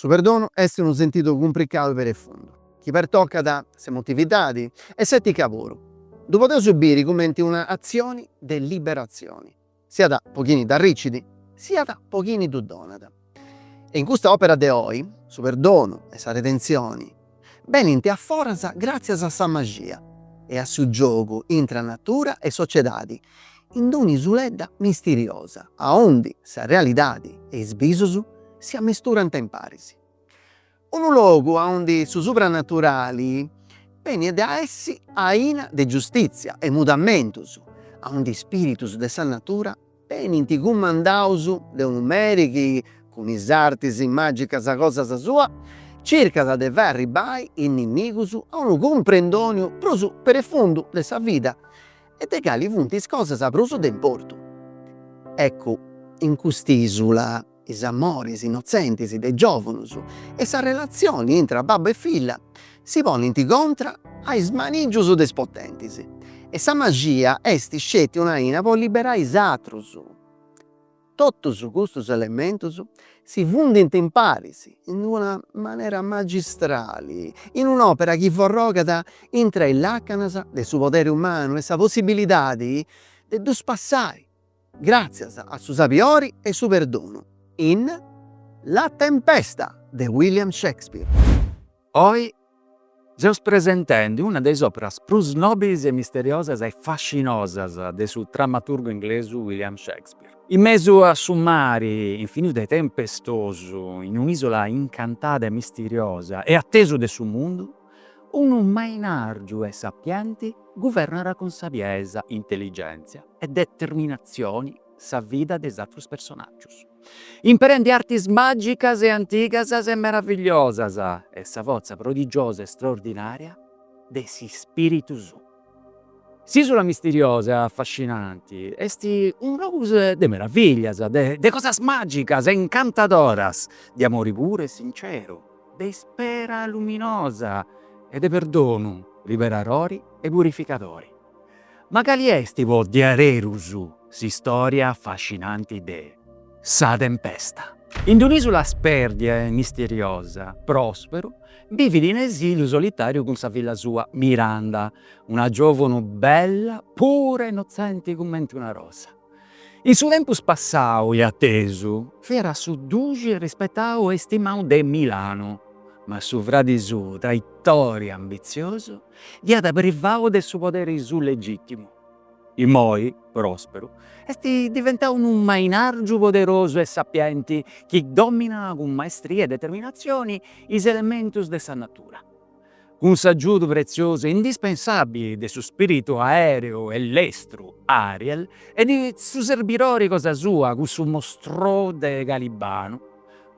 Su perdonu est unu sentidu cumpricadu perefundu, chi pertocat s'emotividadi e s'etica puru. Ddu podeus biri cumenti una atzioni de liberatzioni, Siat po chini dd'arricit. Siat po chini ddu donat. E in custa òpera de oi, su perdonu e sa redentzioni benint a foras gràtzias a sa maxia e a su giogu intra natura e sociedadi in d'un'isuledda misteriosa aundi sa realidadi e is bisus si amesturant in paris. Unu logu aundi su supranaturali benit a essi aina de giustìtzia e mudamentus, aundi is spìritus de sa natura benint cumandaus de unu meri chi, cun is artis màgicas cosas sua, circat de fai arribbai is nimigus a unu cumprendòniu prus prefundu de sa vida e de cali funt is cosas prus de importu. Eccu, in cust'ìsula. is amoris innotzentis de giòvunus e sa relatzioni intra babbu e filla si ponint contra a is manìgius de is potentis e sa maxia est sceti una aina po liberai is atrus. Totus custus elementus si fundint in paris in una manera magistrali in un'òpera chi forrogat intra is làcanas de su poderi umanu e sa possibilidadi de ddus passai Gràtzias a su sabiori e su perdonu in La tempesta de William Shakespeare. Oi seus presentendi una de is òperas prus nòbilis e misteriosas e fascinosas de su dramaturgu inglesu William Shakespeare. In mesu a su mari infinitu e tempestosu, in un'ìsola incantada e misteriosa e attesu de su mundu, unu mainàrgiu e sapienti guvernat cun sabiesa, intelligèntzia, e determinatzioni sa vida de is atrus personàgius, imperendi artis màgicas e antigas e meravigliosas e sa fortza prodigiosa e straordinària de s'ispìritu suu. S'ìsula misteriosa afascinanti est unu logu de meraviglias, de cosas màgicas e incantadoras, de amori puru e sinceru, de ispera luminosa e de perdonu liberadori e purificadori. Ma cali est po diarerus s'istòria afascinanti de Sa tempesta? In d'un'ìsula spèrdia e misteriosa, Pròsperu bivit in esiliu solitàriu cun sa filla sua Miranda, una giòvunu bella pura innotzenti cumenti una rosa. In su tempus passau e atesu fiat su duxi rispetau e istimau de Milanu, ma su fradi suu traitòri ambitziosu dd'iat privau de su poderi suu legìtimu. Imoi, Pròsperu, est diventau unu mainàrgiu poderosu e sapienti chi dòminat cun maestria e determinatzioni is elementus de sa natura. cun s'agiudu pretziosu e indispensàbili de su spìritu aèreu e lestru Ariel e de su serbidori cosa sua, cussu mostrou de Calibanu,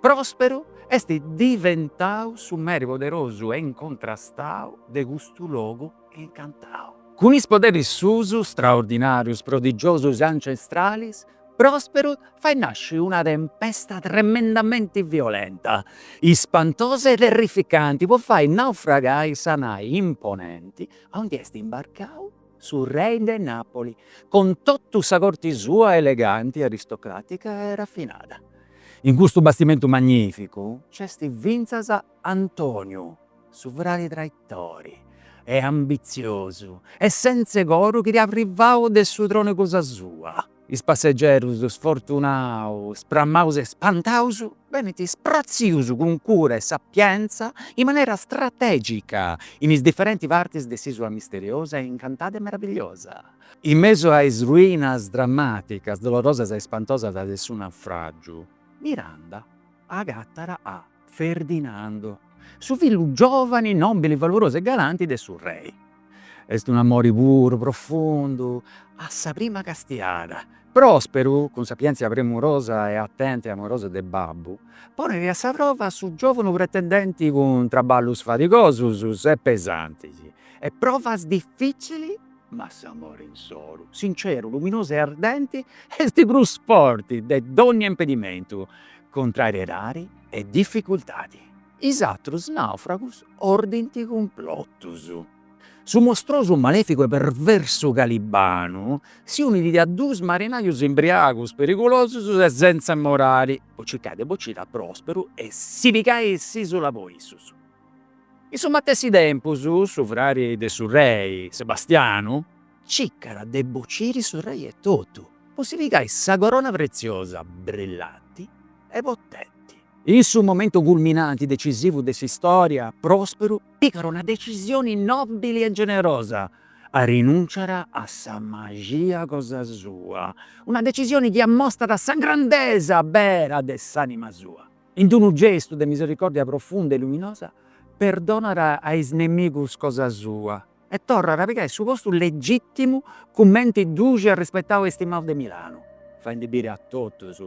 Pròsperu est diventau su meri poderosu e incontrastau de custu logu incantau. Cun is poderis suus straordinàrius, prodigiosus e ancestralis, Prosperu fait nasci una tempesta tremendamenti violenta, ispantosa e terrificanti po fai naufragai sa nai imponenti aundi est imbarcau su rei de Napoli cun totu sa corti sua eleganti, aristocratica e raffinada. In custu bastimentu magnificu nc'est fintzas Antoniu, su fradi traitori e ambitziosu e sentze coru chi dd'at privau de su tronu cosa sua. Is passegerus sfortunaus, spramaus e spantaus benint spratzius cun cura e sapientza in manera strategica in is diferenti partis de s'isula misteriosa e incantada e meravigliosa. In mesu a is ruinas dramaticas, dolorosas e spantosas de su naufragiu, Miranda agattat a. Ferdinando, su fillu giovani, nobili, valorosu e galanti de su Rei. Est un amori puru, profundu, a sa prima castiada. Prosperu, cun sapientzia premurosa e atenta e amorosa de babbu, ponit a sa prova su giovanu pretendenti cun traballus fadigosus e pesantis e provas dificili. Ma s'amore insoru, sinceru, luminosu e ardenti est prus forti de dònnia impedimentu, contrariedadi e dificultadi. Is atrus nàufragus ordint cumplotus. Su mostrosu, malèficu e perversu Calibanu si unit a duus marinajus imbriagus, perigulosus e sentza morali, po circai de bociri a Pròsperu e si pigai s'ìsula po issus. In su matessi tempus su frari de su rei, Sebastianu, cicat de bociri su rei etotu po si pigai sa corona pretziosa, brillanti e potenti. In su momentu culminanti decisivu de s'istòria, Pròsperu pigat una decisioni nòbili e generosa, arinùnciat a sa maxia cosa sua, una decisioni chi amostat sa grandesa bera de s'ànima sua. In d'unu gestu de misericòrdia profunda e luminosa, perdonat a is nemigus cosa sua e torrat a pigai su postu legìtimu cumenti duxi arrispetau e stimau de Milanu, faendi biri a totus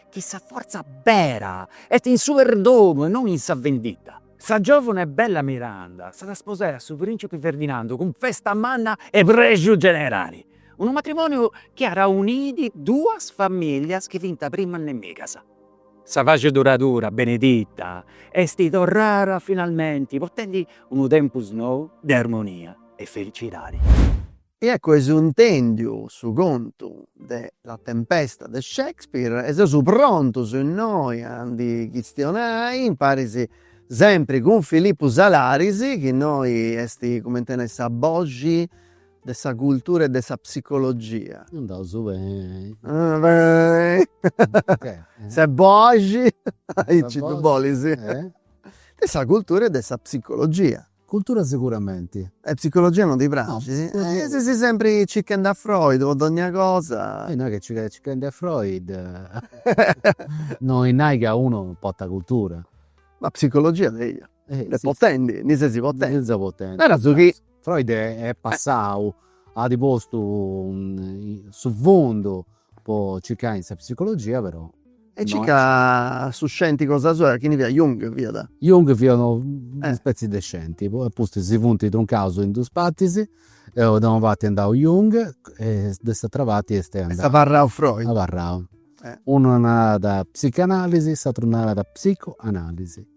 chi sa fortza bera est in su perdonu e non in sa vendita. Sa giòvuna e bella Miranda s'at a sposai a su prìncipi Ferdinandu cun festa manna e prexu generali, unu matrimòniu chi at auniu duas famìllias chi fiant primas nemigas. Sa paxi duradura beneita est torrara finalmenti potendi unu tempus nou de armonia e felicidadi. E eccu esu intendiu su contu de La tempesta de Shakespeare e seus prontus innoi a ndi chistionai imparis sempri cun Filippu Salaris chi innoi est, cumenti a nai, sa boxi de sa cultura e de sa psicologia. Andaus beni. Ses boxi, aici ddu bolis? De sa cultura e de sa psicologia. Cultura seguramenti. E psicologia non ti praxit? E si ses sempri circhendi a Freud po dogna cosa. E no est chi circhendi circhendi a Freud, no est nai ca unu portat cultura. Ma psicologia de ita? De potenti, ndi ses potenti. Naras chi Freud est passau, at postu su fondu po circai in sa psicologia però. E cica su scenti cosa sua, chini fiat, Jung fiat? Jung fiat unu una spetzi de scenti, poi apustis si funt truncaus in dus partis, e de una parti andau Jung e de s'atera parti est andau. Est abarrau Freud. Abarrau. Unu narat psicanalisi, s'ateru narat psicoanalisi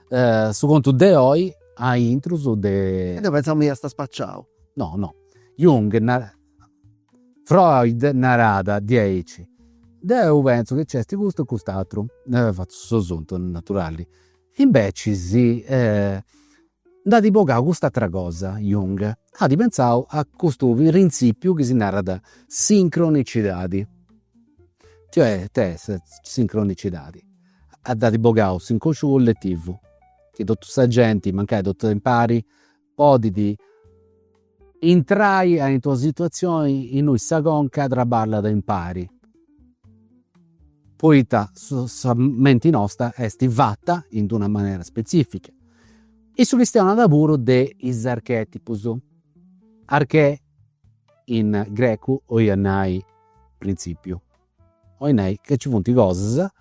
Su contu de oi aintrus de. E deu pentzamu chi iast a spaciau. No no. Jung narat, Freud narat diaici. Deu pentzu chi nc'est custu e cust'atru. Fatzu su suntu, naturali. Inveci si nd'at bogau cust'atra cosa Jung, at pentzau a custu printzipiu chi si narat sincronicidadi. Cioè, ita est sincronicidadi At bogau s'inconsciu colletivu chi totu sa genti, mancai totus impari, podit intrai aint'e una situatzioni innui sa conca traballat impari, poita sa menti nosta est fatta in d'una manera spezifica. Issu chistionat puru de is archetipus, archè in grecu 'oiat nai prinzipiu. Oi nai ca nci funt cosas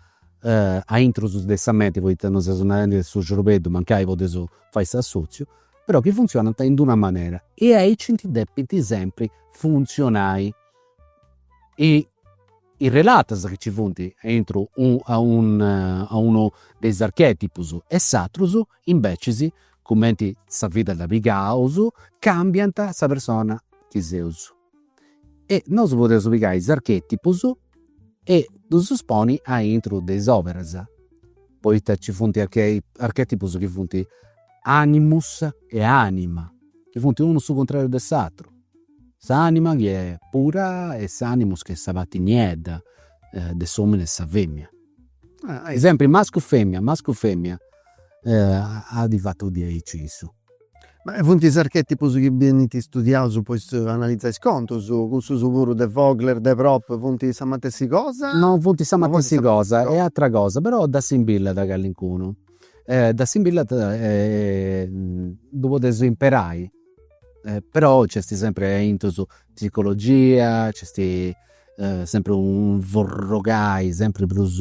a intrus de sa menti, poita non seus narendi de su ciorbeddu mancai podeus fai s'assotziu, però ca funtzionant in d'una manera e aici nci depint sempri funtzionai. E is relatas chi nci funt aintru a unu de is archetipus e s'atrus invecias, cumenti sa vida dda pigaus, cambiant sa persona chi seus. e nosu podeus pigai is archetipus e ddus poni aintru de is oberas, poita nci funt archetipus chi funt animus e anima, chi funt unu su cuntrariu de s'aturu, s'anima chi est pura e s'animus chi est sa parti niedda de s'omini e sa femina. Sempri mascu femina, mascu femina, at fatu diaici issu Ma funt is archètipus chi benint istudiaus po analizai is contus? Cussus puru de Vogler, de Propp. Funt sa matessi cosa? No funt sa matessi cosa, est atra cosa, però dda simbillat callincunu. Dda simbillat e ddu podeus imperai, però nc'est sempri a intus psicologia, nc'est sempri unu forrogai sempri prus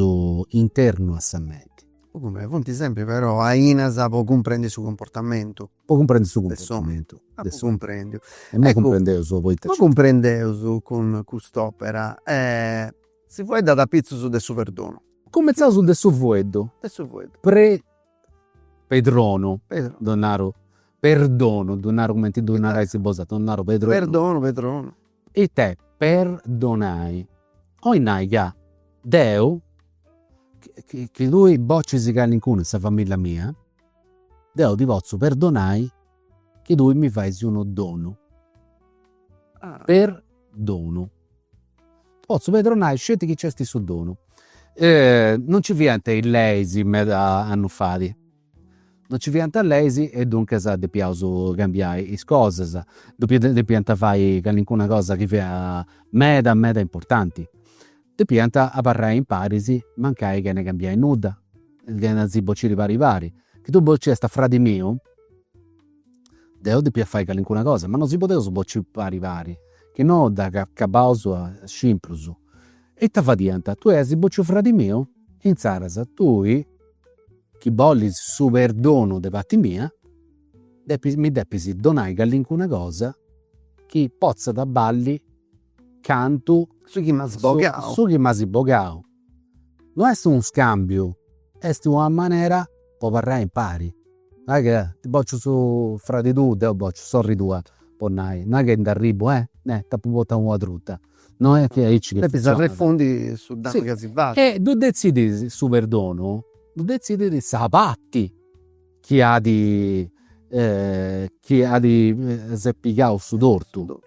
internu a sa menti Cumenti funt sempri però ainas po cumprendi su cumportamentu. Po cumprendi su cumportamentu. De s'omini. Cumprendiu. E nci cumprendeus poita. Ma cumprendeus cun cust'opera si fueddat apitzus de su perdonu. Cumentzaus de su fueddu. De su fueddu. Pedronu. Pedronu. Ddu naru perdonu, ddu naru cumenti ddu narais bosatrus, ddu naru pedronu. Perdonu, pedronu. Ite, perdonai. Oi nai ca deu chi tui bocis calincunu in sa familia mia, deu ti potzu perdonai chi tui mi fais unu donu. Perdonu. Potzu perdonai sceti chi nc'est su donu. Non nci fiant is leis meda annus fadi Non nci fiant leis e duncas depiaus cambiai is cosas, depiant fai callincuna cosa chi fiat meda meda importanti, depiant abarrai imparis mancai chene cambiai nudda, chene a si bociri pari pari. Chi tui bociast a fradi miu, deu depia fai callincuna cosa, ma non si podeus bociri pari pari, chi no dd'acabaus cinc prus. E ita fadiant, tui as bociu fradi miu, insaras tui Chi bolis su perdonu de parti mia, depis, mi depis donai callincuna cosa chi potzat balli cantu su chi m'as bogau. Su chi m'as bogau. No est unu scambiu, est una manera po abarrai impari. No est ca ti bociu su fradi tuu, deu bociu sorri tua, po nai, no est ca nd'arribu, eh, t'apu portau una truta No est chi aici chi funtzionat. Depis arrefundi su danu chi as fatu. E ddu detzidit su perdonu, ddu detzidit sa parti chi at chi at s'est pigau su tortu.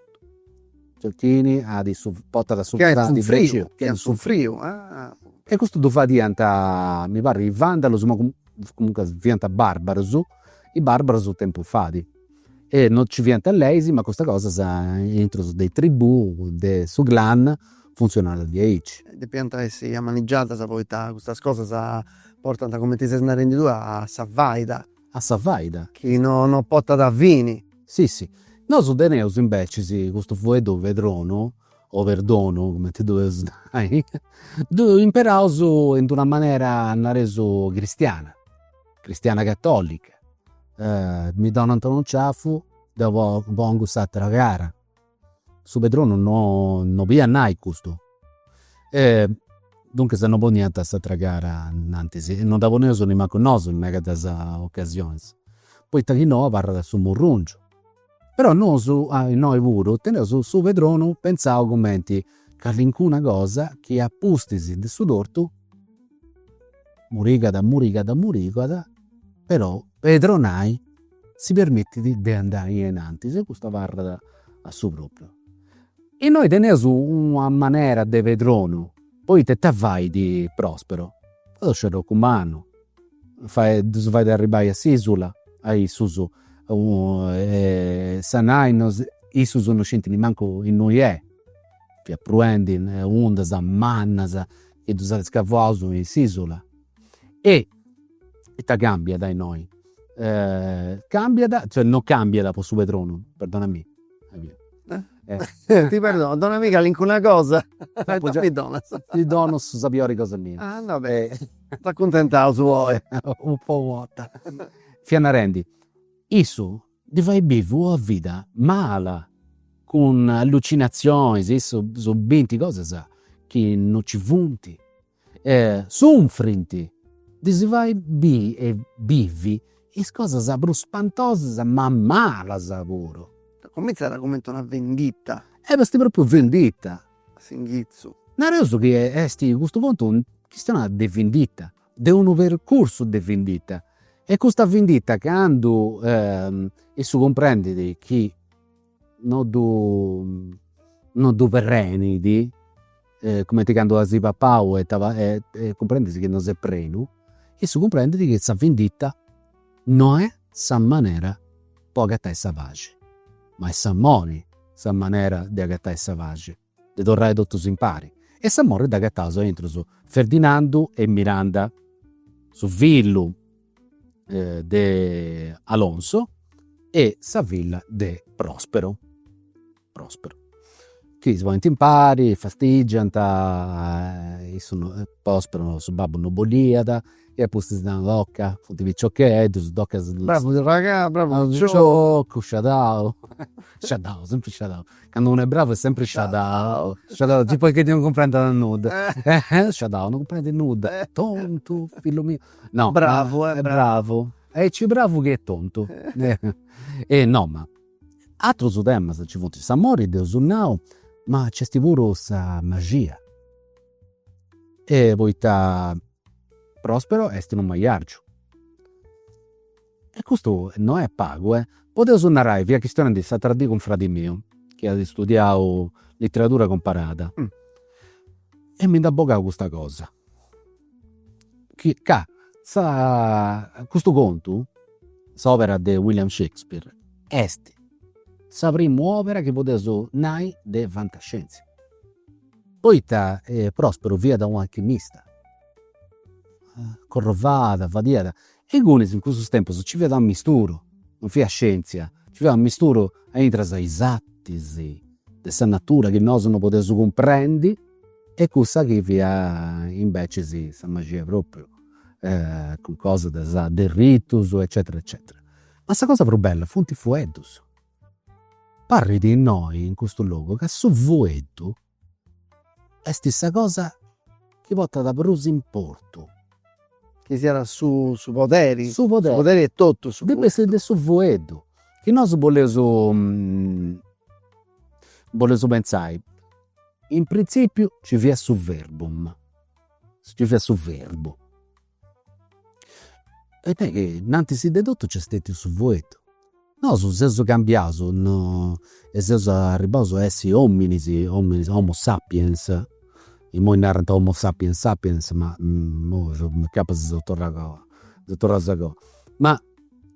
Chini at su, portat su fradi fradiu. Chi at sufriu. E custu ddu fadiant, mi parrit is vandalus, ma comunque fiant barbarus, is barbarus u' tempus fait E no nci fiant leis, ma custas cosas intrus de is tribù, de su clan, funtzionant diaici. Depiant essi amanigiadas poita custas cosas portant, cumenti ses narendi tui, a sa faida. A sa faida. Chi no no potat fini. Si si. Nosu teneus imbecis custu fueddu pedronu, o perdonu, cumenti ddu eus nai, ddu imperaus in d'una manera, nareus, cristiana. cristiana catolica mi donant unu ciafu deu pongu s'atera cara, su pedronu no no boliat nai custu e duncas no poniant s'atera cara antzis, non dda poneus nemmancu nosu in medas ocasionis, poita chi no abarrat su murrungiu Però nosu innoi puru teneus su pedronu pentzau cumenti callincuna cosa chi a pustis de su tortu murigat murigat murigat però pedronai si permittit de andai innantis e custu abarrat a su propriu. Innoi teneus una manera de pedronu poita ita fait Prospero, Prospero est u' mannu ddus fait arribbai a s'isula a issus e sa nai no issus no scintint mancu innui est fiat pruendi undas mannas chi ddus at scavuaus in s'isula e ita cambiat innoi cambiat cioè no cambiat po su pedronu perdonami Ti perdono, dona·mì calincuna cosa mi donas. Ti dono sa piori cosa mia. Ah no beh, s'acuntentaus poi. Po u' 'orta. Fia narendi, issu ddi fait bivi una vida mala, cun allucinatzionis, issus bint cosas chi no nci funt. E sunfrint ddis fait biri e bivi is cosas prus spantosas ma malas puru. Comintzat cumenti una vindita. E est propriu vindita. A s'inghitzu. Nareus chi a custu puntu chistionat de vindita, de unu percursu de vindita. E custa vindita candu issu cumprendit chi no ddu no ddu perrenit cumenti candu as papau e e cumprendis chi no ses prenu, issu cumprendit chi sa vindita no est sa manera po agatai sa paxi, ma est s'amori sa manera de agatai sa paxi De torrai totus impari. E s'amori dd'agataus aintru su. Ferdinandu e Miranda, su fillu de Alonso e sa filla de Prospero, Prospero, chi si ponint impari, fastigiant, issu no, Prospero su babbu no bolliat e apustis nant, toca, funt piciocheddus, toca. Bravu arragà, bravu piciocu. Sciadau, sciadau, sempri sciadau. Candu unu est bravu est sempri sciadau, sciadau, tipu chi non cumprendit nudda, eh sciadau, non cumprendit nudda, tontu, fillu miu, no, bravu, eh, bravu, aici bravu chi est tontu, e no, ma atrus temas nci funt, s'amori dd'eus nau, ma nc'est puru sa maxia, e poita Prospero est unu majargiu E custu no est pagu, e. Podeus narai fia chistionendi s'atera dì cun fradi miu, chi at istudiau litteradura cumparada, e mi nd'at bogau custa cosa, chi ca sa custu contu, s'òpera de William Shakespeare, est sa primu òpera chi podeus nai de fantascienzia. Poita Prospero fiat un'alchimista, corrovàt, fadiat E ingunis in cussus tempus ci fiat un'amisturu, non fiat scientzia, ci fiat un'amisturu intra is artis de sa natura chi nosu no podeus cumprendi e cussa chi fiat imbecis sa maxia propriu, cun cosas de sa de ritus eccetera eccetera. Ma sa cosa prus bella funt is fueddus. Parrit innoi in custu logu ca su fueddu Est sa cosa chi portat prus importu. Chi siat su su poderi. Su poderi. Su poderi etotu. Depiat de su fueddu. Chi nosu boleus boleus pentzai, in prinzipiu ci fiat su verbum, ci fiat su verbu Est a nai chi innantis de totu nc'est stètiu su fueddu. Nosu seus cambiaus, no, e seus arribbaus a essi ominis, ominis, homo sapiens, imoi narant homo sapiens sapiens ma imoi incapas si seus torraus, seus torraus agoa. Ma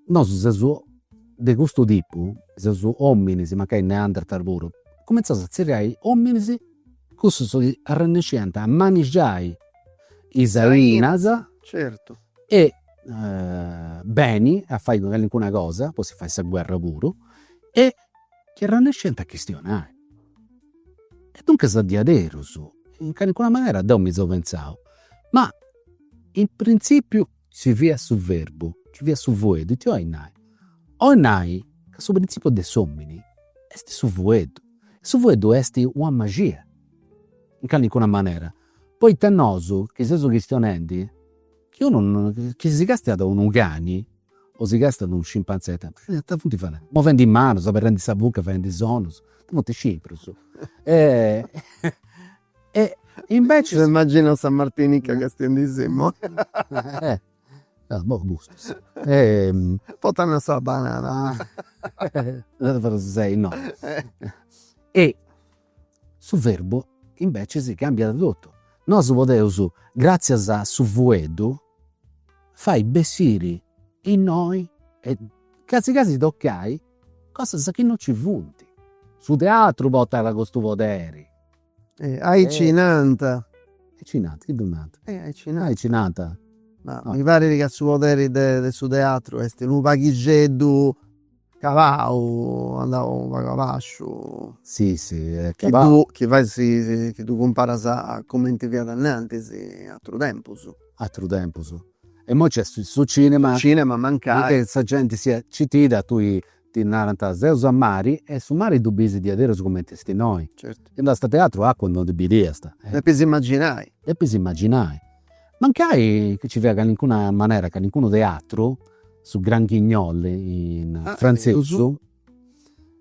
nosu seus de custu tipu, seus ominis, mancai neanderthal puru, cumintzaus a tzerriai ominis Cussus arrennesciant a manigiai is ainas, certu, e beni a fai calincuna cosa, po si fai sa guerra puru, e chi arrennesciant a chistionai. E duncas a diaderus, in calincuna manera deu mi seu pentzau, ma in printzipiu Ci fiat su verbu, ci fiat su fueddu, ita 'olit nai? 'olit nai ca su printzipiu de s'omini est su fueddu, e su fueddu est una maxia, in calincuna manera, poita nosu chi seus chistionendi chi unu, chi si castiat unu cani o si castiat unu scimpanzè, ita funt fadendi, movendi is manus, aberrendi sa buca, fadendi sonus, ita funt scimprus E invecias. M'immaginu sa martinica castiendisì, mu. Ah boh custus. Potant sa banana. Deu forsis sei no. E su verbu invecias cambiat totu. Nosu podeus gratzias a su fueddu fai bessiri innoi e casi casi toccai cosas chi no ci funt. Su teatru potat custu poderi Aici nant. Aici nant, chi ddu nant? Aici nant. Aici nant. Ma mi parit ca su poderi de de su teatru est unu paghixeddu calau, andau unu pagu a basciu. Si si est calau. Chi fai si chi ddu cumparas a cumenti fiat innantis, atrus tempus. Atrus tempus. E imoi nc'est su cinema. Su cinema mancai. Sa genti siat citida a tui Ti narant, seus a mari e su mari ddu biis diaderus cumenti est innoi. Chi andast a teatru acua non ndi bidiast. Depis imaginai. Depis imaginai. Mancai chi ci fiat calincuna manera, calincunu teatru, su Gran Guignol in frantzesu,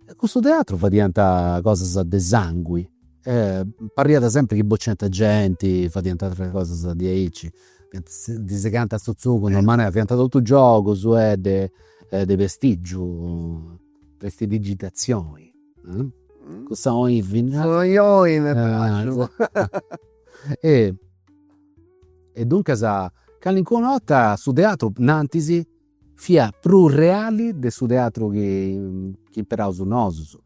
e cussu teatru fadiant cosas de sangui e pariat sempri chi bociant genti, fadiant ateras cosas diaici Ddi segant su tzugu in d'una manera, fiant totus giogus de de prestigiu, prestidigitazioni. Cussa oi fini. Sa oi oi m'est praxiu. E duncas calincuna 'orta su teatru, innantis, Fiat prus reali de su teatru chi imperaus nosus,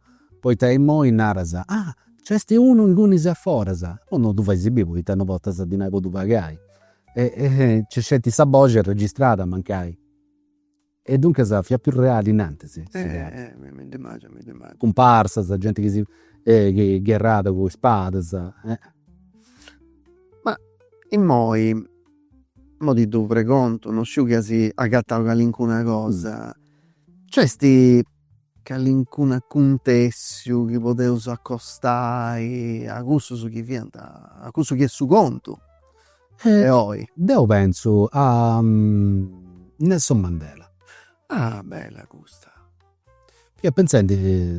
poita imoi naras, ah, nc'est unu ingunis a foras, però no ddu fais biri poita no portas dinai po ddu pagai. E nc'est sceti sa boxi arregistrada mancai. E duncas fiat prus reali innantis su teatru. Cumparsas, genti chi si gherrat cun is spadas. Ma imoi Mo ti ddu pregontu, no sciu chi asi agattau calincuna cosa. Nc'esti calincunu acuntessiu chi podeusu accostai a cussus chi fianta, a cussu chi est su contu de oi? Deu pentzu a Nelson Mandela. Ah! Bella custa. Fia pentzendi,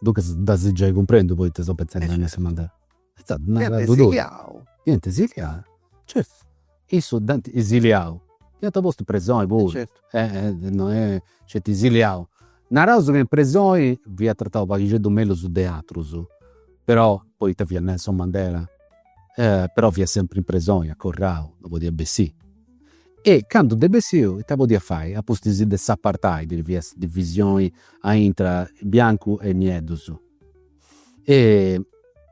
duncas dd'as giai cumprendu poita seu pentzendi a Nelson Mandela. Fiant esiliaus. Fiant esiliaus, certu. Issu dd'ant esiliau, dd'ant postu in presoni puru. Certu. Non est, sceti esiliau. Naraus ca in presoni fiat tratau u' paghixeddu mellus de atrus, però poita fiat Nelson Mandela, però fiat sempri in presoni, acorrau, no podiat bessì. E candu nd'est bessiu, ita podiat fai, a pustis de s'apartheid, chi fiat sa divisioni a intra biancu e nieddus. e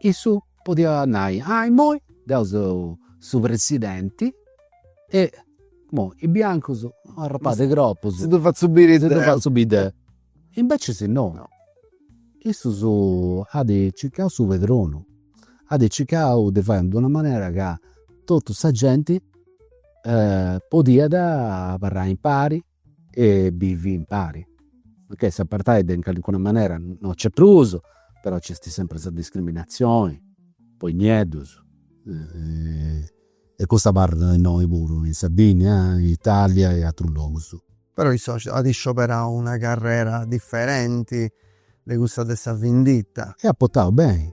issu podiat nai, ah immoi deu seu su presidenti e immoi is biancus no arrapàt cropus, si ddu fatzu biri deu, imbecis no, issus at circau su pedronu, at circau de fai in d'una manera ca totu sa genti podiat abarrai impari E bivi impari. Ok s'apartheid in calincuna manera no nc'est prus, però nc'est sempri sa discriminazioni po is nieddus e custu abarrat innoi puru in Sardigna, in Italia e atrus logus. Però issu at scioberau una carrera diferenti de cussa de sa vinditta. E at portau beni,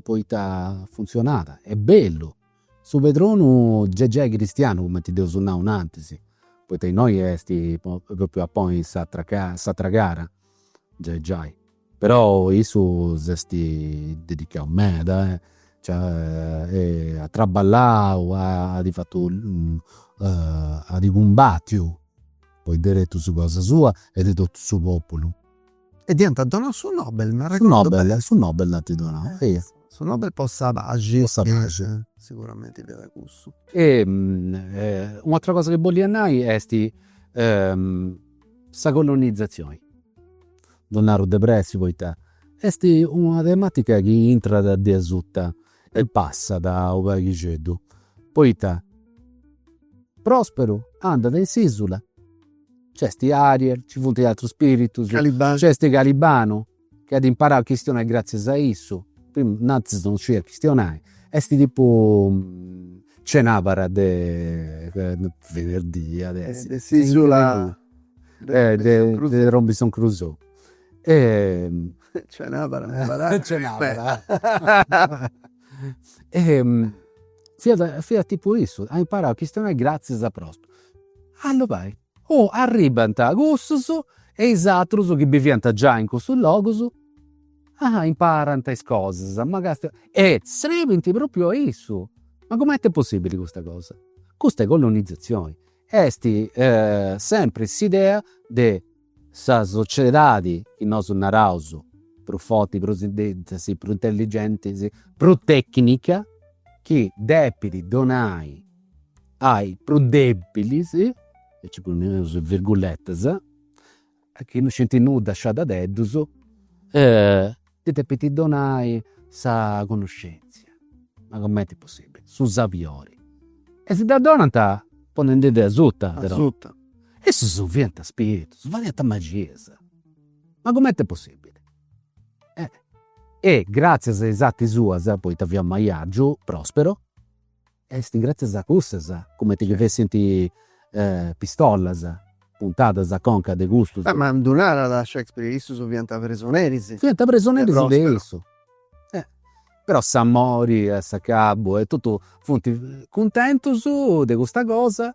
poita funtzionat, est bellu Su pedronu gei gei cristianu cumenti dd'eus nau innantis, poita innoi est propriu a ponni s'atra s'atra cara, gei gei. Però issu s'est dedicau meda, ci at traballau, at fatu at cumbatiu po is deretus cosa sua e de totu su populu E ddi ant donau su Nobel, m'arregodu beni. Su Nobel, su Nobel dd'ant donau, eia. Su Nobel po sa paxi. Po sa paxi. Siguramenti fiat cussu. E u'atera cosa chi bollia nai est sa colonizatzioni, ddu naru de pressi poita est una tematica chi intrat de asuta E passat u' paghixeddu poita Prosperu andat in s'isula, c'esti Ariel, ci funt atrus spiritus, c'esti Calibanu chi at imparau a chistionai gratzias a issu, primu innantis non scidiat chistionai, esti tipu cenabara de Venerdì, de s'isula de Robinson Crusoe Cenabara cenabara cenabara e fiat fiat tipu issu, at imparau a chistionai gratzias a Prosperu. Allora fai, oh arribbant cussus e is atrus chi biviant giai in cussus logus, ah imparant is cosas, e srebint propriu a issu, ma cumenti est possibili custa cosa, custa est colonizatzioni Est sempri s'idea de sa sociedadi chi nosu naraus prus forti, prus intensa, prus intelligenti, prus tecnica, chi depit donai ai prus debilis, e nci poneus is virguletas Chi no scint nudda sciadadeddus. E ddi depit donai sa connoscèntzia. Ma comenti est possibili? Su sabiori. E si dda donat ponendi-ddi asuta. Asuta. Issus fiant spiritus, fadiant magias. Ma comenti est possibili? E gratzias a is arti suas, poita fiat maiagiu, Prospero. Est gràtzias a custas, cumenti chi fessint pistolas puntadas a conca de custus. Ma ddu narat Shakespeare, issus fiant presoneris. Fiant presoneris de issu. Però s'amori a s'acabu e totu funt cuntentus de custa cosa.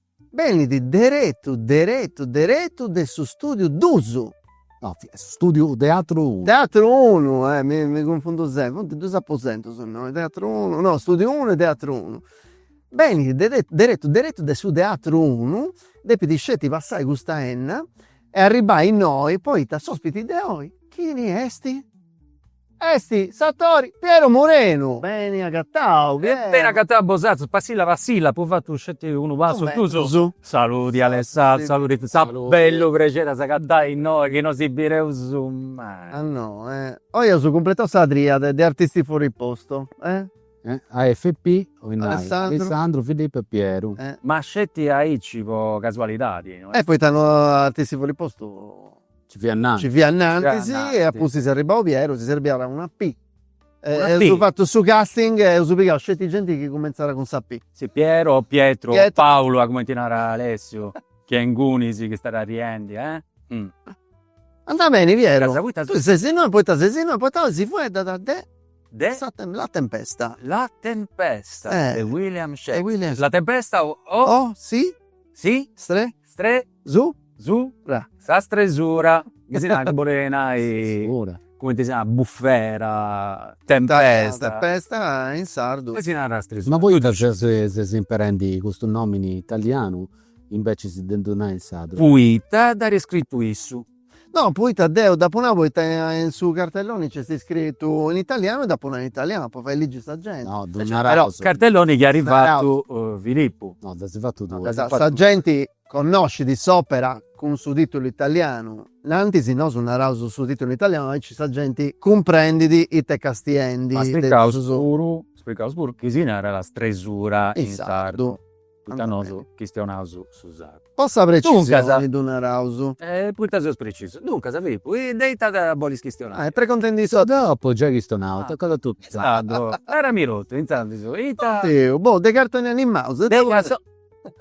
Benit deretu deretu deretu de su stùdiu dus. No, fiat su stùdiu Teatru unu. Teatru unu, eh, mi mi cunfundu sempri, funt dus aposentus innoi, Teatru unu, no, stùdiu unu e Teatru unu. Benit deretu deretu deretu de su Teatru unu, depit sceti passai custa 'enna e arribbai innoi, poita s'ospiti de oi chini esti? Esti s'attori Piero Murenu. Beni agatau Piero. E beni agatau bosatrus, passilla passilla, apu fatu sceti unu passu in prus. Saludi Alessandro, saludi Fitz, a bellu prexeri a s'agatai innoi chi no si bireus mai. A no e, oi aus cumpletau sa triade de Artisti Fuori Posto e. AFP, 'olit nai, Alessandro, Filippo e Piero. Ma sceti aici po casualidadi. E poita no Artisti Fuori Posto. Ci fiat innanti. Ci fiat innantis e a pustis est arribau Piero si serbiat una P. Eus fatu su casting e eus pigau sceti genti chi cumentzat cun sa P. Si Piero o Pietru o Paulu a cumenti narat Alessiu chi est ingunis chi stat arriendi eh. Andat beni Piero. Tui ses innoi poita ses innoi poita oi si fueddat de de sa la tempesta. La tempesta de William Shakespeare. La tempesta o o si si stre stre Su? Su? Ra. Sa stresura, chi si narat bolit nai, cumenti si narat, bufera, tempesta. Tempesta in sardu. Poi si narat stresura. Ma poita ses imperendi custu nomini italianu imbecis de ddu nai in sardu? Poita dd'at scritu issu. No, poita deu dd'apu nau poita in su cartelloni nc'est scritu in italianu e dd'apu nau in italianu, po fai ligi sa genti. No, ddu naraus. Però, cartelloni chi at fatu Filippu. No, dd'asi fatu tui. Sa genti Connoscit s'òpera cun su tìtulu italianu. Innantis nosu naraus su tìtulu italianu aici sa genti cumprendit it'est castiendi. Ma spricaus puru, spricaus puru chi si narat sa strasura in sardu, poita nosu chistionaus su sardu. Po sa precisioni ddu naraus. Poita seus precisus. Duncas Filipu, de ita bolis chistionai? E preguntendi is atrus. Dopu giai chistionau, tocat a totu in sardu. Narami totu in sardu ita. Deu, boh, de cartoni animaus.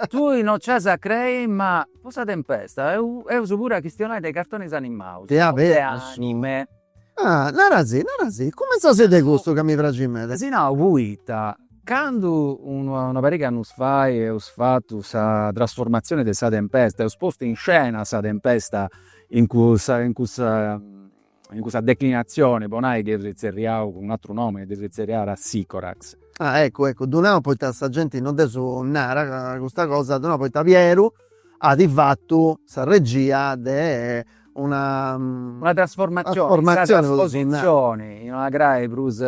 Tui no ci as a crei ma po sa tempesta eus puru a chistionai de is cartonis animaus. De aberas. De anime. Ah narasì narasì cumentzaus de custu ca mi praxit meda. Si nau poita candu una pariga de annus fait eus fatu sa trasformatzioni de sa tempesta, eus postu in scena sa tempesta in cussa in cussa in cussa declinatzione po nai dd'eus tzerriau cun un'atru nomini, dd'eus tzerriada Sicorax. Ah eccu eccu, ddu nau poita sa genti non dd'eus nada custa cosa, ddu nau poita Pieru at fatu sa regia de una una trasformatzioni in sa traspositzioni in una crai prus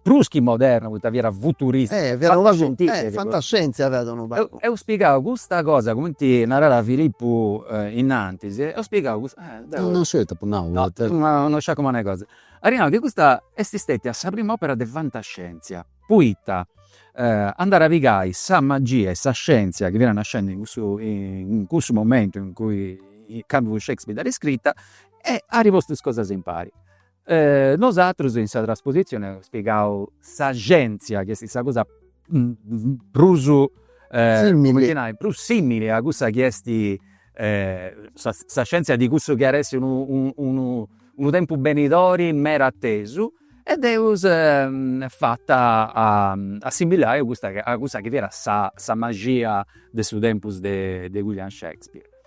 Prus chi moderna poita fiat futurista. Eh fiat unu pagu, eh fantascientzia fiat unu pagu. Eus pigau custa cosa cumenti naràt Filipu innantis, eus pigau custa, deu. No sciu ita apu nau. No no sciu a cumenti est cosa. At nau chi custa est stetia sa prima opera de fantascientzia, poita andat a pigai sa magia e sa scientzia chi fiat nascendi in cussu in cussu momentu in cui candu Shakespeare dd'at scrita e at postu is cosas impari Nosatrus in sa traspositzioni eus pigau sa scientzia chi est sa cosa prus simili, prus simili a cussa chi est sa scientzia de cussu chi at essi unu unu unu tempus benidori meda atesu e dd'eus fata assimilai a custa a cussa chi fiat sa sa maxia de su tempus de de William Shakespeare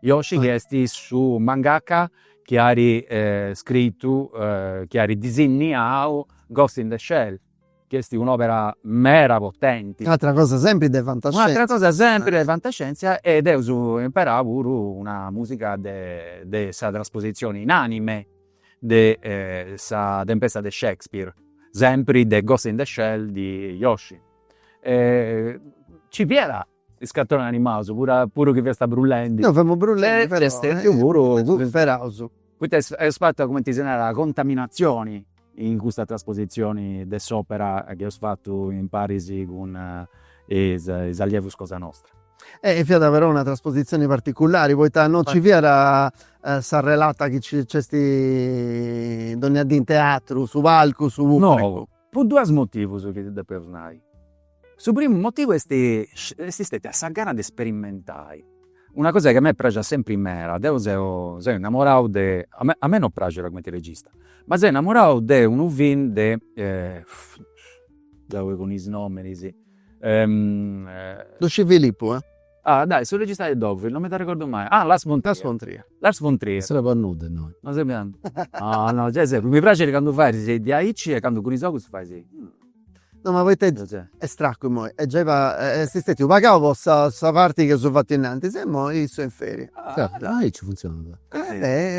Yoshi chi est su mangaka chi at scritu, chi at disinniau Ghost in the Shell, chi est un'òpera meda potenti. Un'atra cosa sempri de fantascièntzia. Un'atra cosa sempri de fantascièntzia e nd'eus imperau puru una musica de de sa traspositzioni in anime de sa Tempesta de Shakespeare, sempri de Ghost in the Shell de Yoshi. Ci fiat Is cartonis animaus, puru chi fiasta brullendi. No, femu brullendi però. Est stetiu puru cust'asperaus. Poita est fata, cumenti si narat, contaminatzioni in custa traspositzioni de s'opera chi eus fatu imparis cun is allievus cosa nostra. E fiat però una traspositzioni particulari, poita no nci fiat sa relata chi nc'est dònnia dì in teatru, su palcu, su pubblicu. No. Pro duas motivos chi ti depemu nai. Su primu motivu est est stetia sa gana de sperimentai una cosa chi a mei praxit sempri meda, deu seu seu innamorau de, a mei a mei non praxit cumenti regista, ma seu innamorau de unu film de deu poi cun is nominis. Luci Filippu Ah, dai, su regista de Dogville, non mi dd'arregordu mai. Ah, Lars von Trier. Lars von Trier. Lars von Trier. Non servet a nudda innoi. Non servet a nudda. No, no, gei servet. Mi praxit candu fais diaici e candu cun is ogus fais. No, ma poita est stracu immoi. E gei est stetidu pagau po sa parti chi eus fatu innantis e immoi issu est in feria. Aici funtzionat.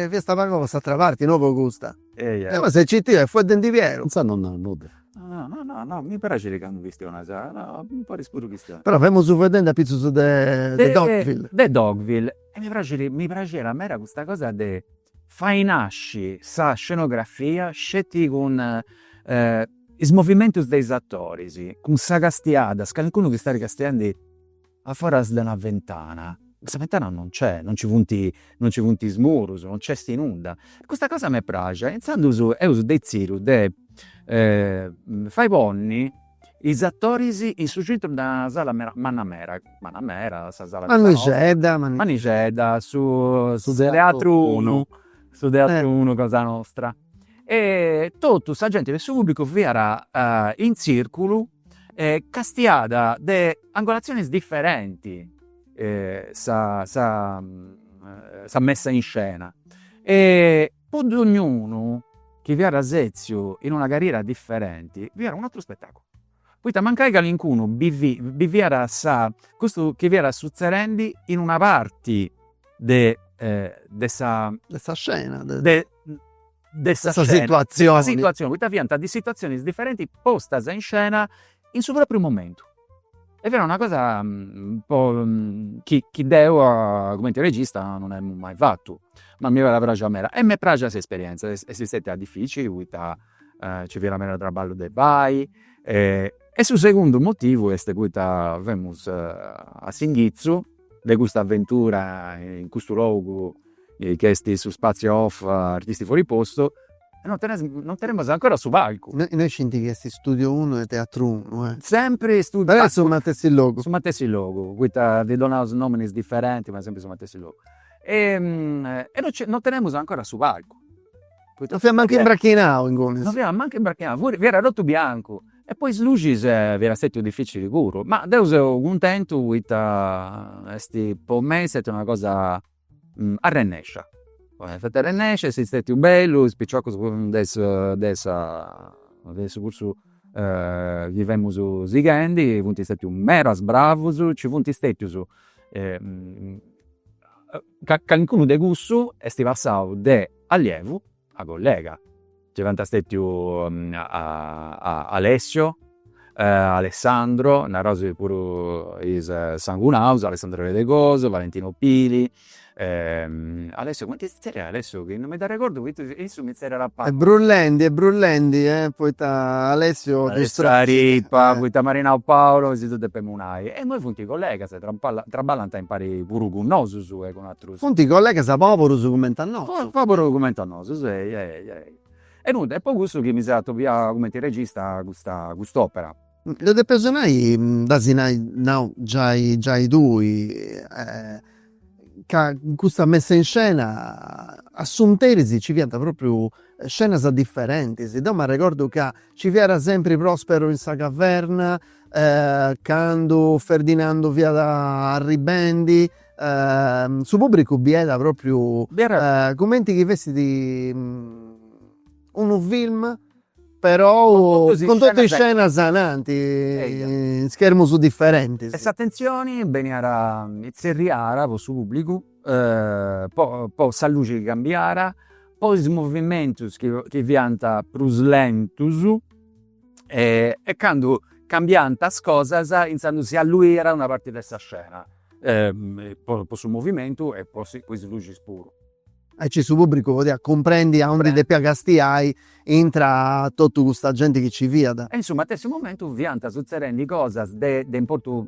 Fiasta pagau po s'atera parti, no po custa. Eia. Scitiu, est fueddendi Piero. Insaras non narat nudda. No no no mi praxit candu chistionas, podis puru chistionai. Però femus fueddendi apitzus de de Dogville. De Dogville e mi praxit, mi praxiat meda custa cosa de fai nasci sa scenografia sceti cun is movimentus de is atoris, cun sa castiada, calincunu chi stat castiandi a foras de una ventana, cussa ventana non nc'est, non nci funt non nci funt is murus, non nc'est nudda, custa cosa m'est praxia e intzandus eus detzidu de fai ponni is atoris in su centru de una sala meda, manna meda, manna meda, sa sala manixedda, manixedda, su teatru unu, su teatru unu cosa nostra e totu sa genti de su pubblicu fiat in tzirculu e castiàt de angolatzionis differenti sa sa sa messa in scena e po dognunu chi fiat setziu in una cadira differenti fiat un'aturu spettaculu Poita mancai calincunu bidiat sa, custu chi fiat sutzerendi in una parti de de sa. De sa scena. De de sa situazioni. De sa situazioni, poita fiant duas situazionis differenti postas in scena in su propriu momentu. E fiat una cosa chi chi deu cumenti regista non emu mai fatu. Ma mi fiat praxia meda e m'est praxia s'esperienza. Est stetia dificili poita Nci fiat meda traballu de fai e su segundu motivu est poita femus a s'inghizu de custa aventura in custu logu chi est su spazio off Artisti fuori posto e non teneus non tenemus ancora su palcu. Nosu scieus chi est studio unu e teatru unu eh. Sempri su matessi logu. Su matessi logu, poita ddi donaus nominis diferenti ma sempri su matessi logu e non tenemus ancora su palcu Non fiat mancu imbrachinau ingunis. Non fiat mancu imbrachinau, fiat totu biancu. E po is luxis fiat stetiu dificili puru. Ma deu seu cuntentu poita est, po mei est stetia una cosa arrennescia. Est stetia arrennescia, est stetiu bellu, is piciocus de sa de sa de su cursu chi femus sighendi funt stetius meda bravus, nci funt stetius ca calincunu de cussu est passau de allievu a collega, nci funt stètiu Alessio, Alessandro, naraus puru is sangunaus, Alessandro Redegoso, Valentino Pili, Alessio cumenti si zerriat Alessio chi non mi dd'arregordu poita issu mi zerriat a palas. Seu brullendi seu brullendi poita Alessio Alessio Rippa poita m'at nau Paolo si ddu depemus nai e imoi funt collegas Traballant impari puru cun nosus e cun atrus. Funt collegas poburus cumenti a nosu. Poburus cumenti a nosu, sei, ehi, ehi. E nudda, est po cussu chi mi seu atobiau cumenti regista custa cust'opera. Dda depeus nai, dd'as giai nau giai giai tui, ca in custa messa in scena a s'unteris nci fiant propriu scenas differentis. Deu m'arregordu ca nci fiat sempri Prosperu in sa caverna, Candu Ferdinandu fiat arribendi su pubbricu biiat propriu cumenti chi fessit unu film però cun totu is scenas ananti in schermus differentis. E s'atentzioni beniat itzerriada po su pubbricu po po sa luxi chi cambiat po is movimentus chi fiant prus lentus e candu cambiant is cosas intzandus si alluiat una parti de sa scena po su movimentu e po is luxis puru. Aici su pubbricu podiat cumprendi aundi depiat castiai intra totu custa genti chi nci fiat. E in su matessi momentu fiant sutzedendi cosas de importu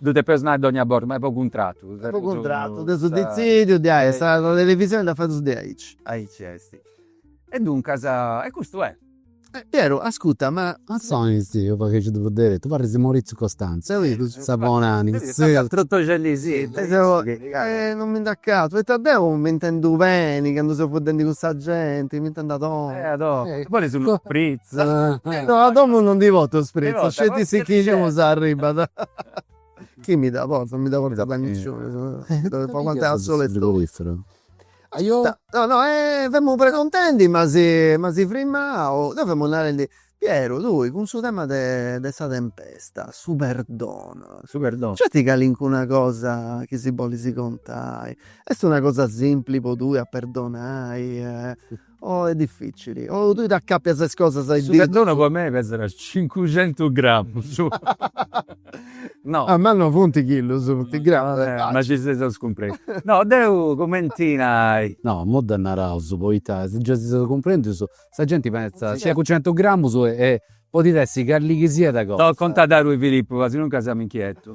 Ddu depeus nai dogna borta, ma est po cuntratu. Est po cuntratu, dd'eus detzìdiu diai, sa televisioni dda fadeus diaici. Aici est. E duncas, e custu est. Pieru, ascuta, ma. Ma poita deu fatzu diaici, parit de Maurizio Costanzo, sa bonànima. Non mi nd'acatu, poita deu m'intendu beni candu seu fueddendi cun sa genti, m'intendu a domu. E a domu. No a domu no ndi portu spritz sceti su chi nci arribbat. Chini mi ddu portat non mi ddu portat nisciunu depu aguantai a solu e tottu. No no femu preguntendi ma s'e ma s'est frimmau, no femu narendi Pieru tui cun su tema de de sa tempesta, su perdonu, nc'est calincuna cosa chi si bollis contai, est una cosa simpli po tui a perdonai Oh est dificili, oh tui t'acapias is cosas a is ditus. Su perdonu po mei pesat cincucentus gramus. No. Ah ma no funt chillus, funt gramus. Ma si seis a scumprei. No deu cumenti nai. No, imui dda naraus poita si gei si seus cumprendius sa genti pentzat cincucentus gramus e podit essi calli chi siat cosa. No, contat tui Filipu ca si no nci semu inchietus.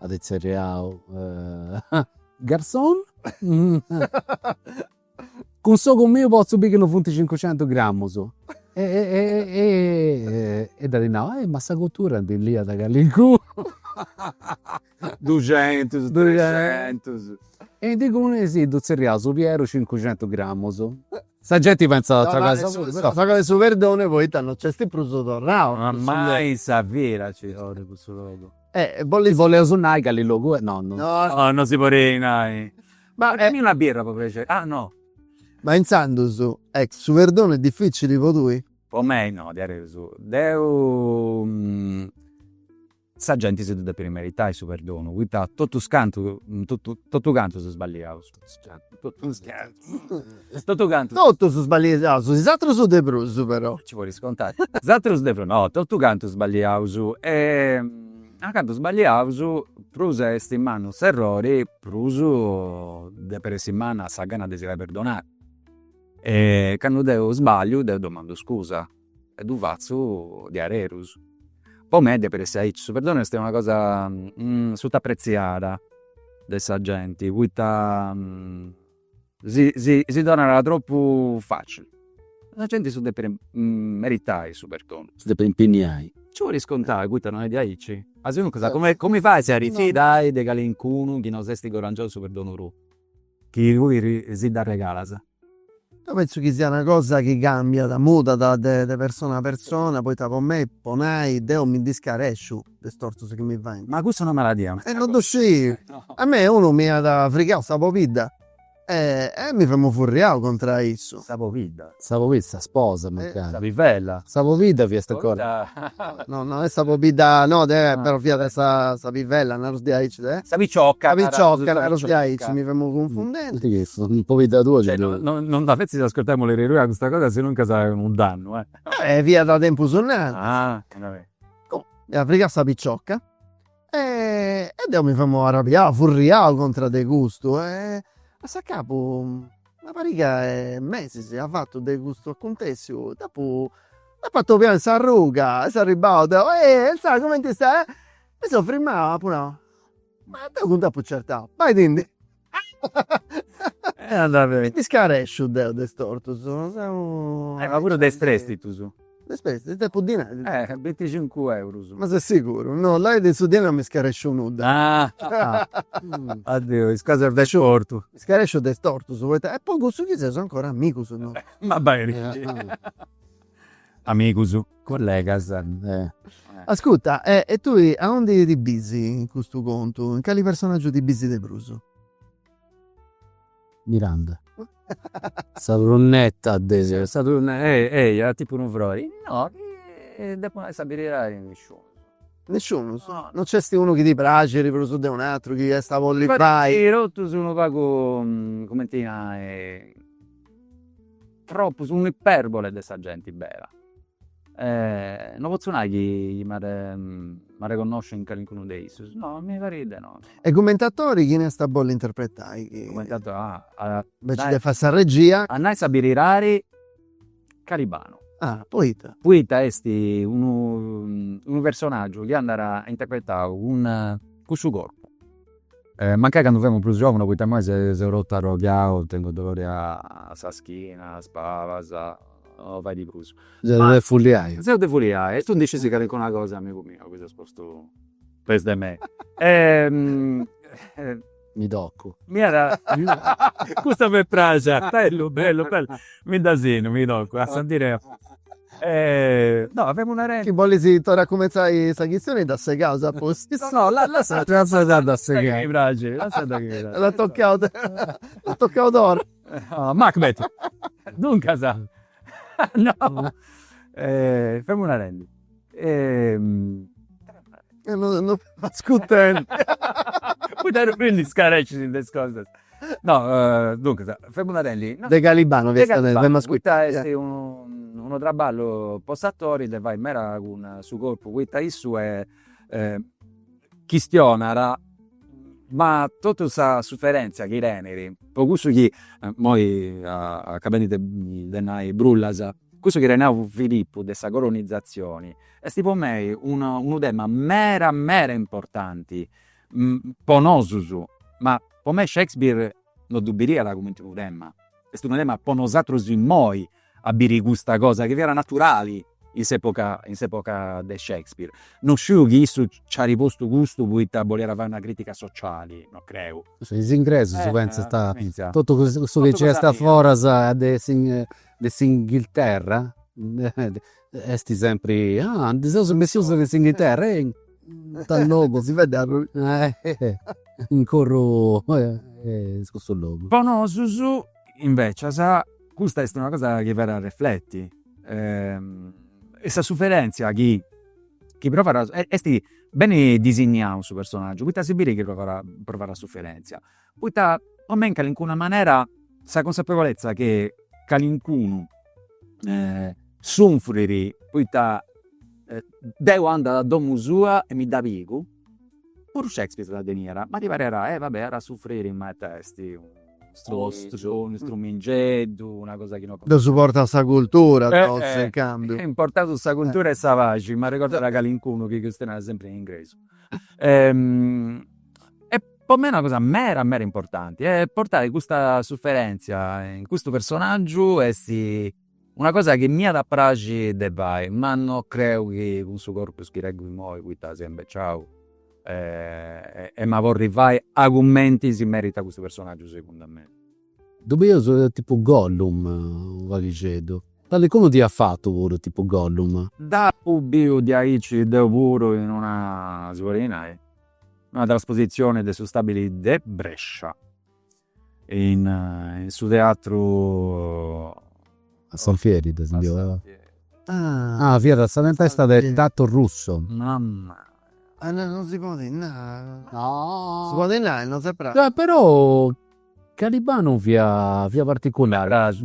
At tzerriau Garçon! Cun s'ogu miu potzu biri chi no funt cincucentus gramus. E dd'at nau, eh ma sa cottura ndi liat calincunu. Duxentus, trexentus. E duncas si ddu tzerriaus su pieru cincucentus gramus. Sa genti pentzat a tragai su perdonu. A tragai su perdonu poita no nc'est prus torrau. Ma mai in sa vida nci torru in cussu logu. Bolli boleus nai cali logu est no. No no no si podit nai. Ma Faghimi una birra po prexeri. Ah no. Ma intzandus su perdonu est dificili po tui? Po mei no, diaderus deu sa genti si ddu depit meritai su perdonu, poita totus cantu totu cantus sballiaus. Totu cantu. Totus sballiaus, is atrus de prus però. Ci podis contai. Is atrus de prus, no, totu cantu sballiaus e candu sballiaus prus est mannu s'errori prus depit essi manna sa gana de si fai perdonai e candu deu sballiu deu domandu scusa E ddu fatzu diarerus. Po mei depit essi aici. Su perdonu est una cosa sut'apreziada de sa genti poita si si si donat tropu facili. Sa genti si ddu depit meritai su perdonu. Si depit impinniai. Nci podis contai poita non est diaici. Asinuncas cumenti fai a si arrifidai de calincunu chi no s'est guadangiau su perdonu tui. Chi tui si dd'arregalas. Deu penzu chi siat una cosa chi cambiat, mudat de persona a persona, poita po mei, po nai, deu mi ndi scaresciu de is tortus chi mi faint. Ma cussa è una maladia? E non ddu sciu. A mei unu m'iat frigau sa pobidda e e mi femu furriau contra a issu. Sa pobidda? Sa pobidda, sa sposa mancai. Sa pivella. Sa pobidda fiat ancora. No no est sa pobidda no de però fiat sa pivella naros diaici de. Sa picioca. Sa picioca naros diaici mi femu cunfundende. Chi est sa pobidda tua ci ddu. No no dda fetzas ascurtai a mulleri tua custa cosa sinuncas est unu dannu. Fiat tempus innantis. Ah. Comu. M'iat frigau sa picioca. E deu mi femu arrabiau, furriau contra de custu e a s'acabu una pariga 'e mesis at fatu de custu acuntessiu dd'apu dd'apu atobiau in s'arruga e seu arribau deu, ehi Elzada cumenti stai, mi seu firmau e apu nau, ma deu cun dd'apu certau, bai·ti·ndi mi ndi scaresciu deu de is tortus, seu. Ma puru de is prèstitus. De is prèstitus, depu dinai. Eh binticincu eurus. Ma ses siguru? No, là de su dinai non mi scaresciu nudda. Ah deu is cosas de is tortus. Mi scaresciu de is tortus, poita, est po cussu chi seus ancora amigus nosu. Ma beni. Amigus. Collegas. Ascurta, e e tui aundi ti bisi in custu contu, in cali personaggiu ti bisi de prus? Miranda. Sa brunetta de. Sa brunetta, ehi ehi, a tipu unu froi. No, chi depu nai sa beridadi, nisciunus. Nisciunus? No nc'est unu chi ti praxit prus de un'atru, chi iast a bolli fai. Totus unu pagu, cumenti nai, Tropus unu iperbole de sa genti bera. No potzu nai chi m'arreconnosciu in calincunu de issus, no, mi parit de no. E cumenti atori chini iast a bolli interpretai? Cumenti atori, ah. Inveci de fai sa regia. A nai sa beridadi, Calibanu. Ah, poita? Poita est unu personaggiu chi andat interpretau cun su corpu. Mancai candu femu prus giovunu poita imoi seu totu arroghiau, tengu dolori a sa schina, a is palas, no faidi prus. Seu de fuliai. Seu de fuliai e tui ndi scis calincuna cosa amigu miu chi ses postu peus de mei. Mi tocu. Mi at, custa m'est praxia, bellu bellu bellu, mi dda sinnu, mi tocu, a sa ndi leu Chi bolis torrai a cumentzai sa chistioni dda segaus a pustis. No no lassai dda segai. L'at tocau l'at tocau torra. Macbeth. Duncas no. Femus narendi No fatzu cuntentu. Poita no mi ndi scarescis de is cosas. No, duncas, femus narendi. De Calibano fiat sa de Femus. Poita est unu traballu po s'atori de fai meda cun su corpu poita issu chistionat ma totu sa suferentzia chi tenit, po cussu chi imoi acabendi de nai brullas Cussu chi at nau Filippu de sa colonizatzioni esti po mei unu tema mera mera importanti po nosus, ma po mei Shakespeare no ddu biriat cumenti unu tema, esti unu tema po nosatrus immoi a biri custa cosa chi fiat naturali in s'epoca in s'epoca de Shakespeare. No sciu chi issu nc'at postu custu poita boliat fai una critica sociali, no creu. Is ingresus pentzant, totu cussu chi nc'est a foras at de essi de s'Inghilterra esti sempri, ah ndi seus bessius de s'Inghilterra, ehi ita logu si fait arrui in corru is cussu logu. Po nosus invecias custa esti una cosa chi fait arrefleti e sa suferentzia chi chi provat esti beni disigniau in su personaggiu poita si biri chi provat suferentzia Poita po mei in calincuna manera sa consapevolezza chi calincunu sunfrit poita deu andu a domu sua e mi dda pigu, puru Shakespeare dda teniat, ma ti pariat, eh va bè, at a sufriri ma ita est unu strumingeddu, una cosa chi no. Ddos portat sa cultura totus in cambiu. Est importau sa cultura e sa paxi, m'arregordat calincunu chi chistionat sempri in ingresu Po mei est una cosa meda meda importanti est portai custa suferentzia in custu personaggiu est una cosa chi m'iat a praxi de fai ma no creu chi cun su corpus chi tengu immoi poita seu imbeciau em'a podi fai a cumenti si meritat custu personaggiu segundu mei. Ddu biu tipu Gollum unu paghixeddu, calincunu dd'iat fatu puru tipu Gollum. Dd'apu biu diaici deu puru in una si podit nai Una traspositzioni de su stabili de Brescia in su teatru. A s'Alfieri dda fiant fadendi. Ah! Fiat sa tempesta de Tato Russo. Mamma! Ah no, non si podit nai. No! Si podit nai, non s'est praxiu. Però. Calibanu fiat particulari,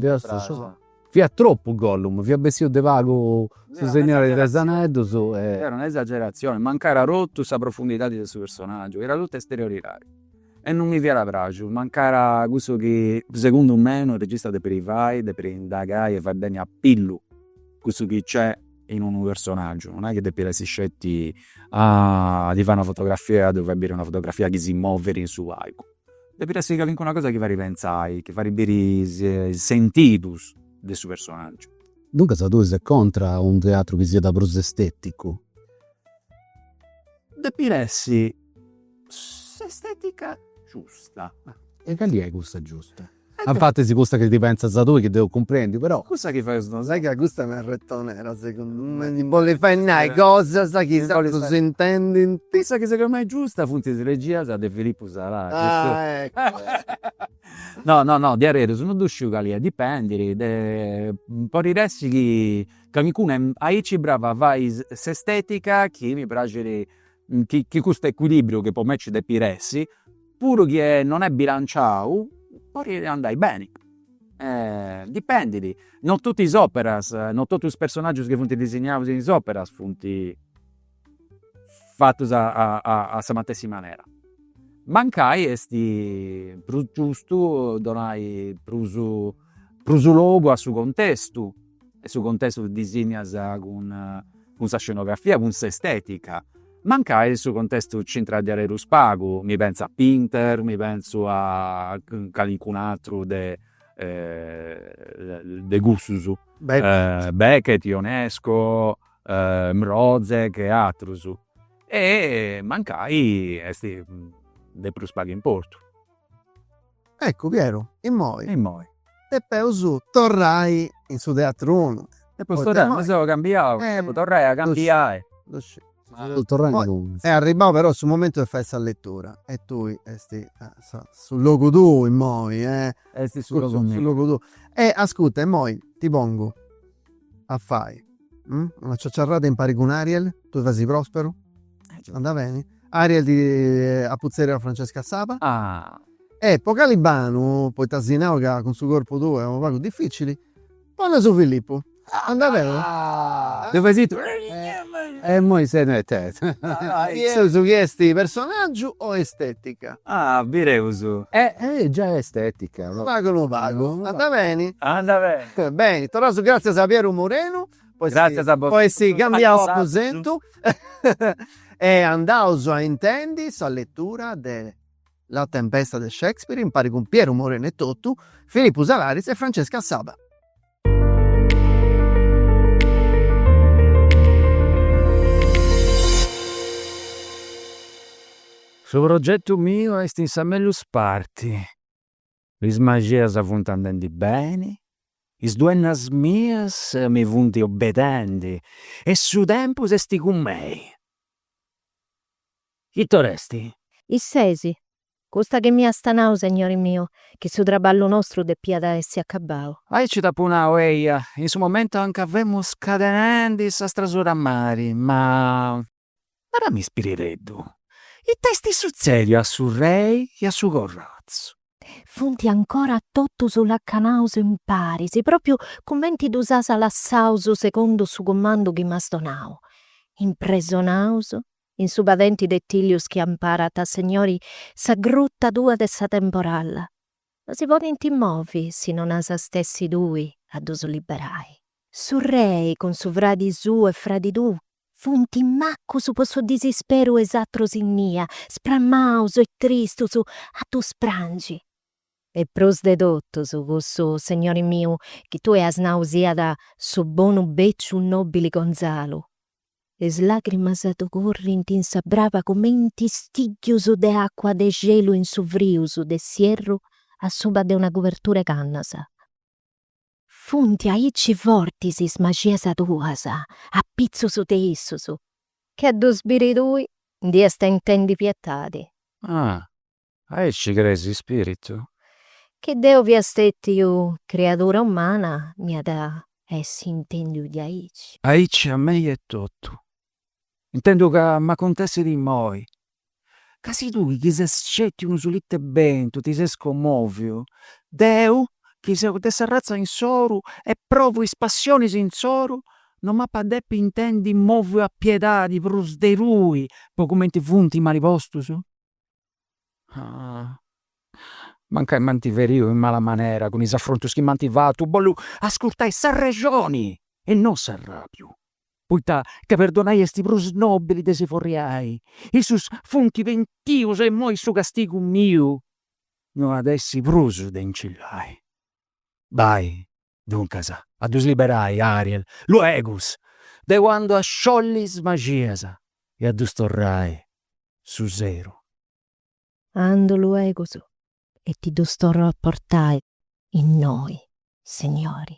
fiat tropu Gollum, fiat bessiu de pagu su Segnori de is Aneddus e. Fiat una esageratzioni, mancaiat totu sa profundidadi de su personaggiu, fiat totu esterioridadi e non mi fiat praxiu, mancaiat cussu chi segundu mei unu regista depit fai, depit indagai e fai beni a pillu cussu chi nc'est in unu personaggiu, non est chi depit essi sceti a ti fai una fotografia e a ddu fai biri una fotografia chi si movit in su palcu. Depit essi calincuna cosa chi fait pentzai, chi fait biri is sentidus de su personaggiu. Duncas tui ses contra a unu teatru chi siat prus esteticu? Depit essi s'estetica giusta. E cali est cussa giusta? Anfatis cussa chi ti pentzas tui chi depu cumprendi però. Cussa chi faeus nosu. Sai ca custa m'est retonera segundu me, chi bollit fai nai cosas chi is atrus s'intendint. Cussa chi segundu mei est giusta funt is regias de Filippu Salaris. Ah eccu. No no no diaderus no ddu sciu cali est, dipendit de, podit essi chi calincuna est aici brava a fai s'estetica chi mi praxit chi custu equilibriu chi po me ci depit essi, puru chi non est bilanciau, podit andai beni. Dipendidi, no totu is operas, no totu is personaggius chi funt disignaus in is operas funt fatus a sa matessi manera. Mancai est prus giustu donai prusu Prusu logu a su contestu, e su contestu ddu disignas cun cun sa scenografia, cun s'estetica, mancai su contestu nci intrat diarerus pagu, mi pentzu a Pinter, mi pentzu a calincun'ateru de de cussus, Beckett, Ionesco, Mrozek e aterus, e mancai est de prus pagu importu Eccu, Pieru, immoi. Immoi. Depeus torrai in su teatrunu. Depeus torrai, mi seu cambiau, depu torrai a cambiai. Ddu sciu. Ma depu torrai inguni. Est arribbau però su momentu de fai sa letura e tui esti a sa, su logu tuu immoi, eh. Esti su logu miu. Su logu tuu. E ascurta, immoi ti pongu. a fai una ciaciarrada impari cun Ariel, tui fasi Prosperu? Anda beni? Ariel ti apuzzeria a Francesca Saba? Ah! E po Calibanu, poita si nau ca cun su corpu tuu est unu pagu difficili, poneus Filippu. Anda beni? Ah! Deu fai s'ittru. E immoi senneta est. Su chi est personaggiu o estetica? Ah, bireus. E eh, già est estetica. Unu pagu, unu pagu. Anda beni. Anda beni. Beni, torraus gràtzias a Pieru Morenu poi si cambiaus aposentu e andaus a intendi sa letura de La tempesta de Shakespeare impari cun Pieru Morenu etotu, Filipu Salaris e Francesca Saba. Su progetu miu est in sa mellus parti, is magias funt andendi beni, is duennas mias mi funt obedendi e su tempus est cun mei. Ita or'est? Is sesi, Custa chi mi iasta nau, segnori miu, chi su traballu nostru depiat essi acabau. Aici t'apu nau, eia, in su momentu anca femu scadenendi sa strasura a mari, ma. Narami spirireddu, ita esti sutzediu a su rei e a su corrazu? Funti ancora totus lacanaus imparis, propriu cumenti ddus has lassaus segundu su cumandu chi m'has donau, impresonaus in su padenti de tìllius chi amparat, segnori, sa gruta tua de sa temporalla, no si podint movi si non as a stessi tui a ddus liberai. Su rei cun su fradi suu e fradi tuu funt macus po su disisperu e is atrus innia, sprammaus e tristus a ddus prangi. E prus de totus cussu segnori miu chi tui as nau siat su bonu bèciu nòbili Gonzalu, Is làgrimas ddu currint in sa braba cumenti stìddius de àcua de xelu in su frius de s'ierru a suba de una cubertura 'e cannas. Funt aici fortis is maxias tuas, apitzus de issus, chi a ddus biri tui nd'iast a intendi pietadi. Ah! Aici crees ispiritu? Chi deu fia stetiu criadura umana m'iat essi intendiu diaici. Aici a mei etotu. Intendu ca m'acontessit immoi. Ca si tui chi ses sceti unu sùlidu 'e bentu ti ses commoviu, deu chi seu de s'arratza insoru e provu is passionis insoru no m'ap'a depi intendi moviu a piedadi prus de tui po cumenti funti mali postus? mancai m'ant feriu in mala manera cun is afrontus chi m'ant fatu, bollu ascurtai s'arrexoni e non s'arrabiu, poita ca perdonai est prus nobili de si forriai. Issus funt pentius e imoi su castigu miu no at essi prus de incillai. Bai, duncas, a ddus liberai, Ariel, luegus, deu andu a sciolli is magias e a ddus torrai su seru. Andu luegus e ti ddus torru a portai innoi, Segnori.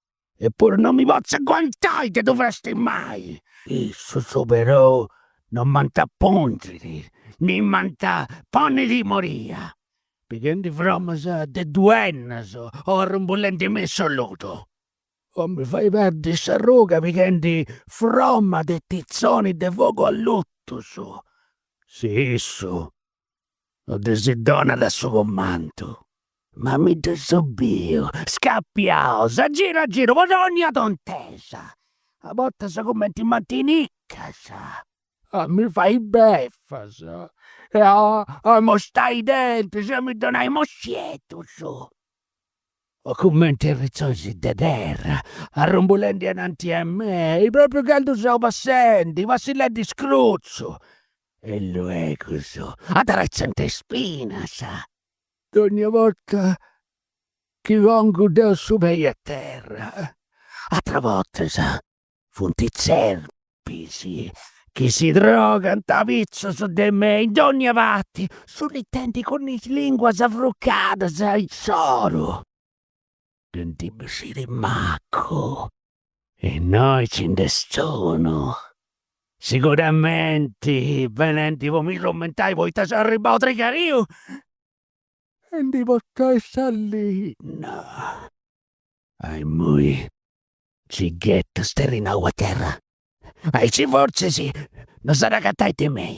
Eppuru non mi potzu aguantai de ddu frastimai! Issus perou non m'ant a pungiri, ni m'ant a ponni timoria, pighendi fromas de duennas o arrumbulendi me in su ludu. O mi fai perdi s'arruga pighendi froma de titzoni de fogu allutus. Si issu no ddis donat su comandu, ma mi ddus seu biu scapiaus a giru a giru po dónnia tontesa, a bortas cumenti mantinicas, a mi fai befas e a amostai is dentis e a mi donai mossieddus, o cumenti arritzonis de terra, arrumbulendi ananti a mei, propriu candu seu passendi, passillendi scrutzu, E luegus addretzant is pinas. Dogna borta chi pongu deu su pei a terra. Atera bortas funt is tzerpis chi si drogant apizus de me in dogna parti, sullitendi cun is linguas afrucadas insoru. Nd'apu a bessiri macu, Innoi ci nd'est unu. Siguramenti benenti po mi trumentai poita seu arribau trigariu a ndi portai sa linna. Imui mi ghetu sterrinau a terra, aici fortzis non s'at agatai de mei.